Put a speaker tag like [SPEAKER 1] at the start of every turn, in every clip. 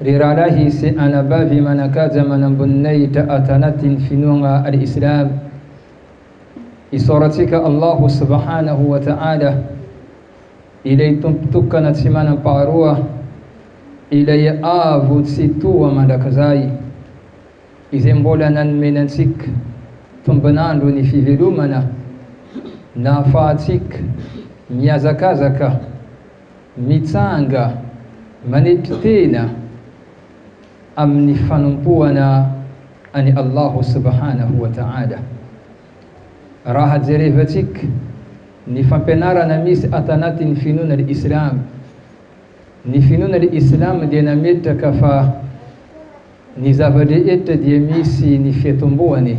[SPEAKER 1] Ry rahalahy sy anabavy manan-kaja manamboninahitra ato anatin'ny finoagna Al Islam, isaorantsika Allah Subhanahu wa Ta'ala, Ilay Tompo tokana tsy manam-paharoa, Ilay Avo tsy toha mandrakizay, Izay mbola nanomeny antsika tombon'andro ny fivelomana, nahafahantsika mihazakazaka Mitsanga manetry tena amin'ny fanompoana an'i Allahu subhanahu wa ta'ala. Raha jerevantsika ny fampianarana misy ato anatin'ny finoana Islama, ny finoana Islama dia nametraka fa ny zava-drehetra dia misy ny fiatombohany.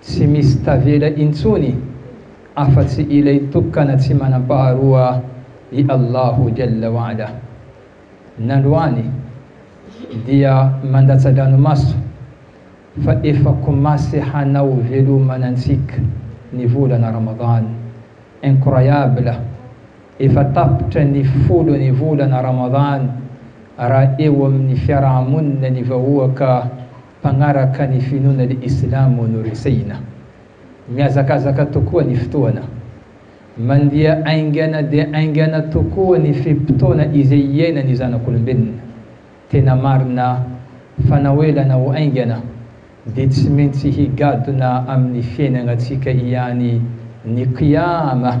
[SPEAKER 1] Tsy misy tavela intsony afa-tsy ilay tokana tsy manam-paharoa i Allahu Jalla wa Ala. Nandroany dia mandatsa-dranomaso fa efa komasy hanao velomana antsika ny volana Ramadan. Incroyable! Efa tapitra ny folo ny volana Ramadan raha eo amin'ny fiaraha-monina ny vahoaka Mpanaraka ny finoana ny islamo no resehina. Mihazakazaka tokoa ny fotoana. Mandia aingana dia aingana tokoa ny fe-potoana izay iainan'ny zanak'olombelona. Tena marina fa na ho ela na ho aingana dia tsy maintsy higadona amin'ny fiainagnatsika ihany ny Qiyama.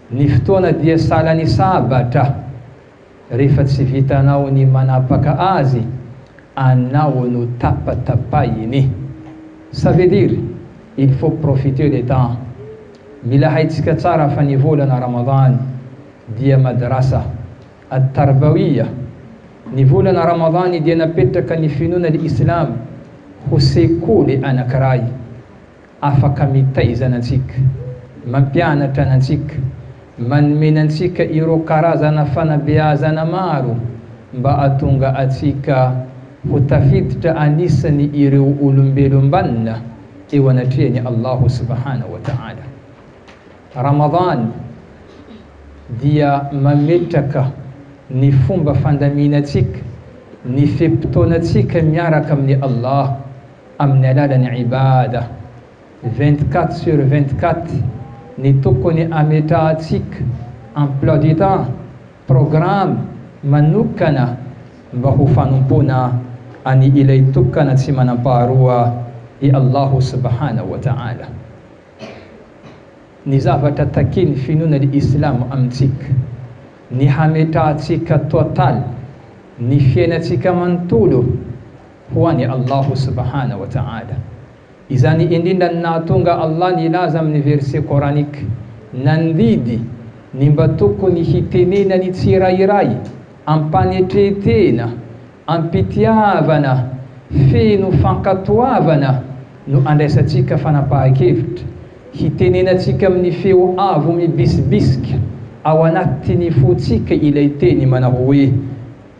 [SPEAKER 1] Ny fotoana dia salan'ny sabatra rehefa tsy vitanao ny manapaka azy anao no tapatapahiny. Ça veut dire il faut profiter le temps. Mila haintsika tsara fa ny volana Ramadan dia madrasa, at-tarbawiyah. Ny volana Ramadan dia napetraka ny finoana ny Islam ho sekoly anankiray. Afaka mitaiza anantsika, mampianatra anantsika, manomena antsika ireo karazana fanabeazana maro mba hahatonga antsika ho tafiditra anisany ireo olombelom-banona eo anatrehan'i Allahu subhanahu wa ta'ala. Ramadan dia mametraka ny fomba fandaminantsika ny fe-potoanantsika miaraka amin'i Allah amin'ny alalan'ny Ibadah vingt-quatre sur vingt-quatre ny tokony hametrahantsika emploi du temps, programme, manokana mba ho fanompoana an'i Ilay Tokana tsy manam-paharoa i Allahu subhanahu wa ta'ala. Ny zavatra takian'ny finoana Islamo amintsika, ny hametrahantsika total ny fiainantsika manontolo, ho an'i Allahu subhana wa ta'ala. Izany indrindra no nahatonga Allah nilaza amin'ny verset coranique nandidy ny mba tokony hitenenan'ny tsirairay am-panetrentena, am-pitiavana, feno fankatoavana no andraisantsika fanapahan-kevitra, hitenenantsika amin'ny feo avo mibisibisika ao anatin'ny fontsika ilay teny manao hoe,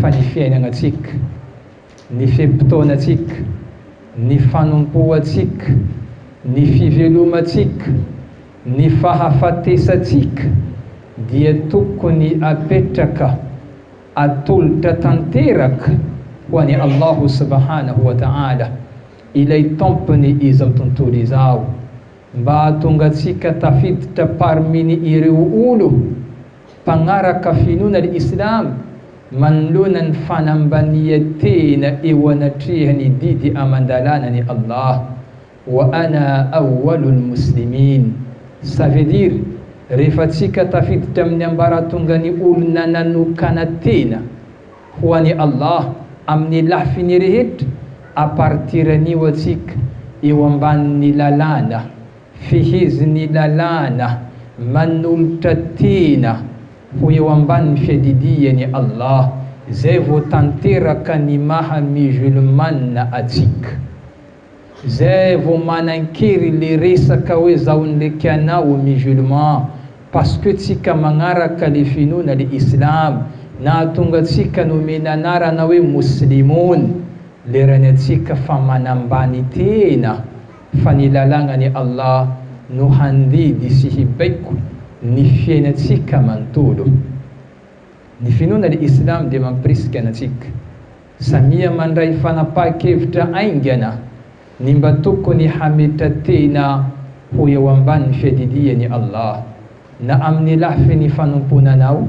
[SPEAKER 1] fa ny fiainanantsika, ny fe-potoanantsika, ny fanompoantsika, ny fivelomantsika, ny fahafatesantsika dia tokony apetraka atolotra tanteraka ho an'i Allah Subhanahu wa Ta'ala, ilay Tompon'ny izao tontolo izao, mba hahatonga antsika tafiditra parmi-ny ireo olo, Mpanaraka finoana ny Islam manoloana ny fanambanian-tena eo anatrehan'ny didy aman-dalànan'i Allah, Wa ana awwalul muslimin, ça veut dire, rehefa tsika tafiditra amin'ny ambaratongan'ny olona nanokana tena ho an'i Allah amin'ny lafiny rehetra, à partir anio atsika eo ambanin'ny lalàna. Fehezin'ny lalàna manolotra tena ho eo ambanin'ny fiadidian'i Allah izay vao tanteraka ny maha musulmana atsika. Zay vao manankery le resaka hoe zaho ndreky anao musulman parce que tsika magnaraka le finoana le islam nahatonga tsika nomena anarana hoe mouslimon lerany atsika fa manambany tena fa ny lalagnan'i Allah no handidy sy hibaiko ny fiainantsika manontolo. Ny finoana ny Islam dia mampirisika antsika samia mandray fanapaha-kevitra aingana ny mba tokony hametra-tena ho eo ambany fiadidian'i Allah na amin'ny lafiny fanompoana anao,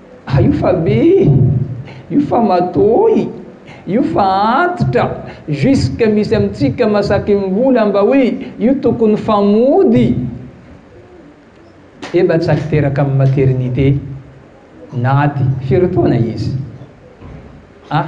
[SPEAKER 1] Ah io fa be e! Io fa matoy! Io fa antitra! Jusque misy amintsika masakimbola mba hoe io tokony fa mody! Eba tsy azo teraka amin'ny maternité! Naty! Firy taona izy? Ah!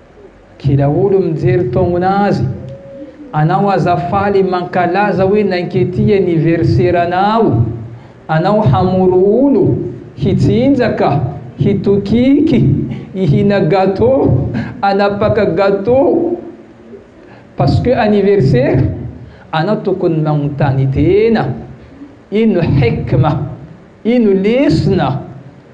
[SPEAKER 1] Kila olo mijery tognona azy, anao aza faly mankalaza hoe nankety anniversaire anao, anao hamory olo, hitsinjaka, hitokiky, hihina gateau, hanapaka gateau parce que anniversaire? Anao tokony magnontany tena, ino hikma? Ino lesona?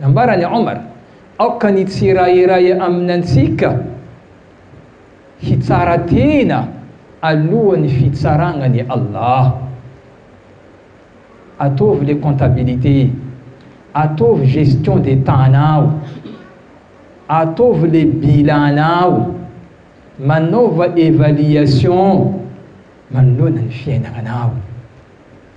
[SPEAKER 1] Nambaran'i Omar, Aoka ny tsirairay aminantsika hitsara tena alohan'ny fitsaragnan'i Allah. Ataovy le comptabilité, ataovy gestion des temps-nao, ataovy le bilan-nao, manaova évaluation manoloana ny fiainagnanao.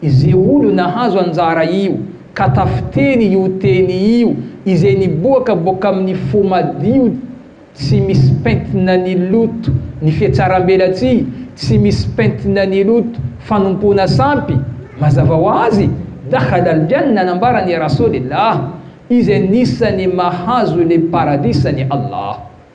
[SPEAKER 1] Ize olo nahazo anjara io ka tafiteny io teny io ize niboaka boka amin'ny fo madio tsy misy pentina ny loto ny fiatsarambelatsihy tsy misy pentina ny loto fanompoana sampy mazava ho azy dakhalal jannah nambaran'i Rasoolillah ize nisany mahazo le paradisany Allah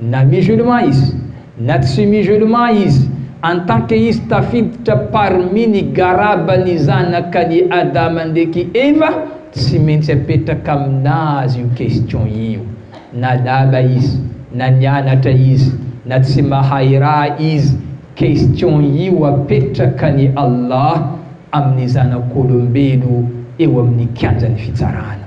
[SPEAKER 1] Na musulman izy na tsy musulman izy en tant que izy tafiditra parmi ny garaba ny zanaka ny Adama ndreky Eva tsy maintsy apetraka aminazy io question io na lala izy na nianatra izy na tsy mahay raha izy question io apetraka ny Allah aminy zanak'olombelo eo aminy kianjany fitsarana.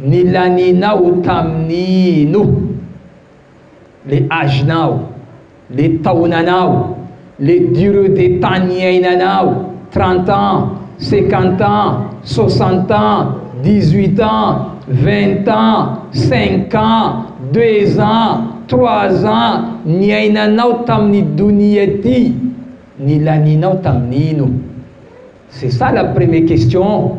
[SPEAKER 1] Nilanianao tamin'ny ino? Le âge-nao, le taonanao, le durée de temps niainanao, trente ans, cinquante ans, soixante ans, dix huit ans, vingt ans, cinq ans, deux ans, trois ans, niainanao tamin'ny donia ty, nilanianao tamin'ny ino? C'est ça la premier question.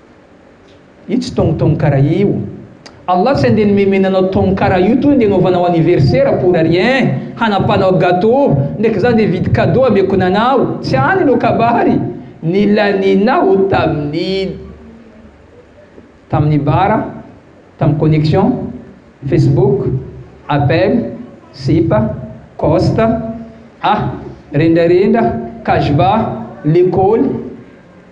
[SPEAKER 1] Io tsy tong tong karaha io. Allah tsy andeha nomemena anao tong karaha io toa andeha anaovanao anniversaire pour rien, hanapanao gateau, ndraiky za andeha hividy cadeau hameko nanao, tsy any anao kabary, nilanianao tamin'ny tamin'ny bara, tamin'ny connexion, facebook, appel, sipa, coste, ah, rendrarendra, kajba, lekôly,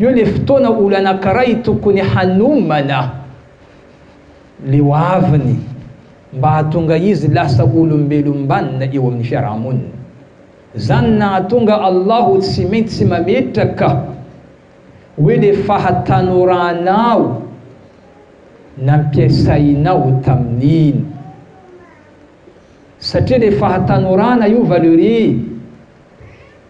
[SPEAKER 1] Io le fotoana olo anankiray tokony hanomana le hoaviny mba hahatonga izy lasa olombelom-banona eo amin'ny fiaraha-monina. Zany nahatonga Allah tsy maintsy mametraka hoe le fahatanoranao nampiasainao tamin'iny. Satria le fahatanorana io valeur'i.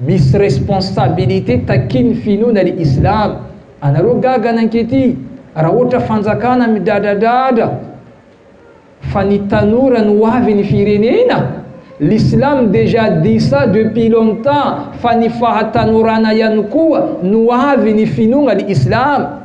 [SPEAKER 1] Misy responsabilité takian'ny finoana ry Islam anareo gaga nankety raha ohatra fanjakana midradradradra fa ny tanora no hoavy ny firenena? L'islam déjà dit ça depuis longtemps fa ny fahatanorana ihany koa no avy ny finoana ry Islam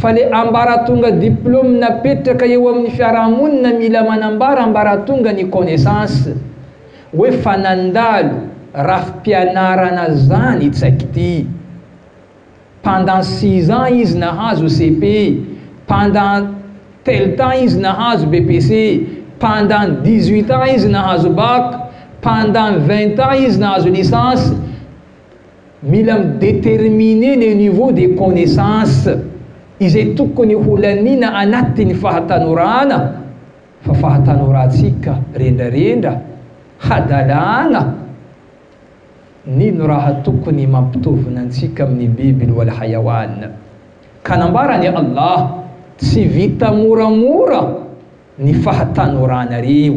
[SPEAKER 1] Fa le ambaratonga diplôme napetraka eo amin'ny fiarahamonina mila manambara ambaratonga ny connaissance hoe fa nandalo rafi-pianarana zany i tsaiky ty. Pendant six ans izy nahazo CP, pendant tel temps izy nahazo BPC, pendant dix-huit ans izy nahazo bac, pendant vingt ans izy nahazo licence, Mila mi determiner le niveau de connaissance izay tokony ho laniana anatin'ny fahatanorana fa fahatanorantsika rendrarendra hadalàgna nino raha tokony mampitovina antsika amin'ny biby ny wal hayawan ka nambaran'i Allah tsy vita moramora ny fahatanorana reo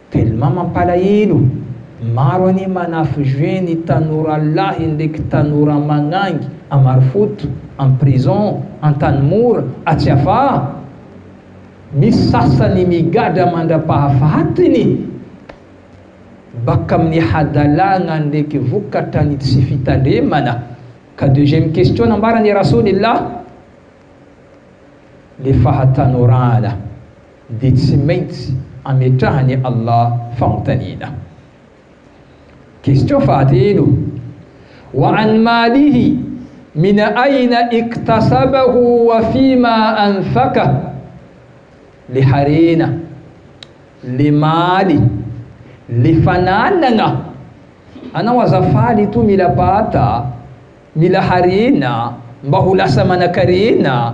[SPEAKER 1] Tellement mampalahelo, maro anie manafy jeux ny tanora lahy ndreky tanora magnangy à Marofoto, am prison, Antanimora, Atsiafaha. Misy sasany migadra mandrapahafahatiny baka amin'ny hadalagna ndreky vokatra ny tsy fitandremana ka deuxième question nambaran'i Rasoanilahy le fahatanorana. dia tsy maintsy ametrahan'i Allah fanontaniana. Question fahatelo, Wa an malihi min aina iktasabahu wa fima anfakah, Le harena, le maly, le fananagna, anao aza faly etoa mila bata, mila harena mba ho lasa manakarena.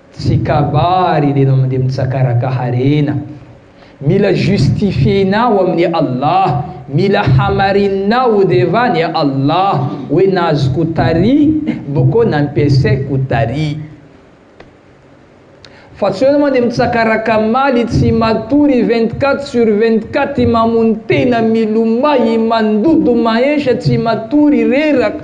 [SPEAKER 1] Tsy kabary ilay mandeha mitsakaraka harena. Mila justifier-nao amin'i Allah, mila hamarininao devant an'i Allah hoe nazoko tary boko nampiasaiko tary. Fa tsy hoe anao mandeha mitsakaraka maly tsy matory vingt quatre sur vingt quatre mamono tena milomay mandoto mahensa tsy matory reraka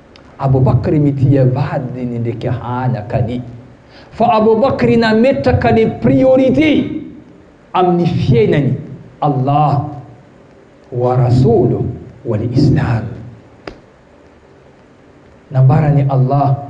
[SPEAKER 1] Abou Bakr mitia ny vadiny ndreky hanakany. Fa Abou Bakr nametraka ny priorité amin'ny fiainany Allah wa Rasoulou wa ny Islam. Nambaran'i Allah.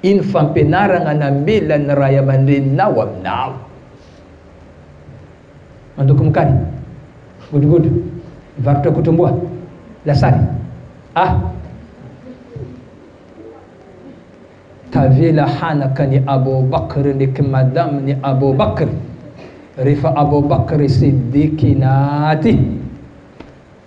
[SPEAKER 1] Ino fampianaragna namela ny ray aman-dreninao aminao? Mandoko mokary, godrogodro, mivarotra kotromboa, lasary, a. Tavela hanaka ny Abou Bakr ny kmadam ny Abou Bakr rehefa Abou Bakr Siddiqi naty.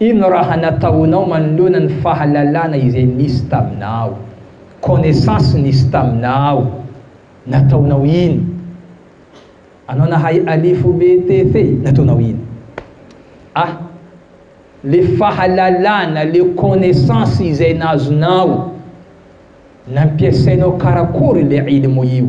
[SPEAKER 1] Ino raha nataonao manoloana ny fahalalana izay nisy taminao? Connaissance nisy taminao, nataonao ino? Anao nahay alifo be te fe, nataonao ino? A, Le fahalalana, le connaissance izay nazonao, nampiasainao karakory le ilmu io?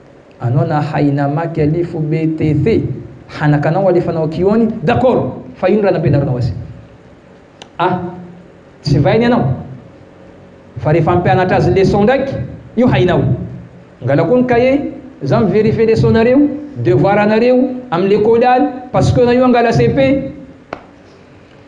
[SPEAKER 1] Anao na haina maky aly fo be te the hanaka anao alefanao aky ho any d'accord fa ino raha nampianarinao azy a tsy vainy ianao fa rehefa hampianatra azy leçon ndraiky io hainao angala koa ny cahier za mi-verifier leçon nareo devoir anareo am lekôly any pasquena io angala cepe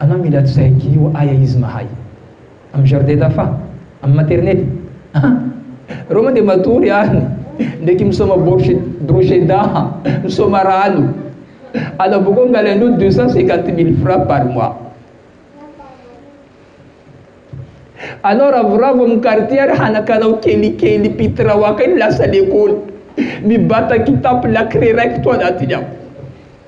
[SPEAKER 1] Anao mila check io aia izy mahay am jardin d'enfant? Am maternelle? An! Reo moa de matory any ndreky misaoma borosy brosy dah misaoma rano ala boko angaly anao deux cent cinquante mille francs par mois anao ravoravo am quartier ary hanakanao kelikely pitrao akany lasa lekôly mibata kitapo lakile raiky to anatiny ao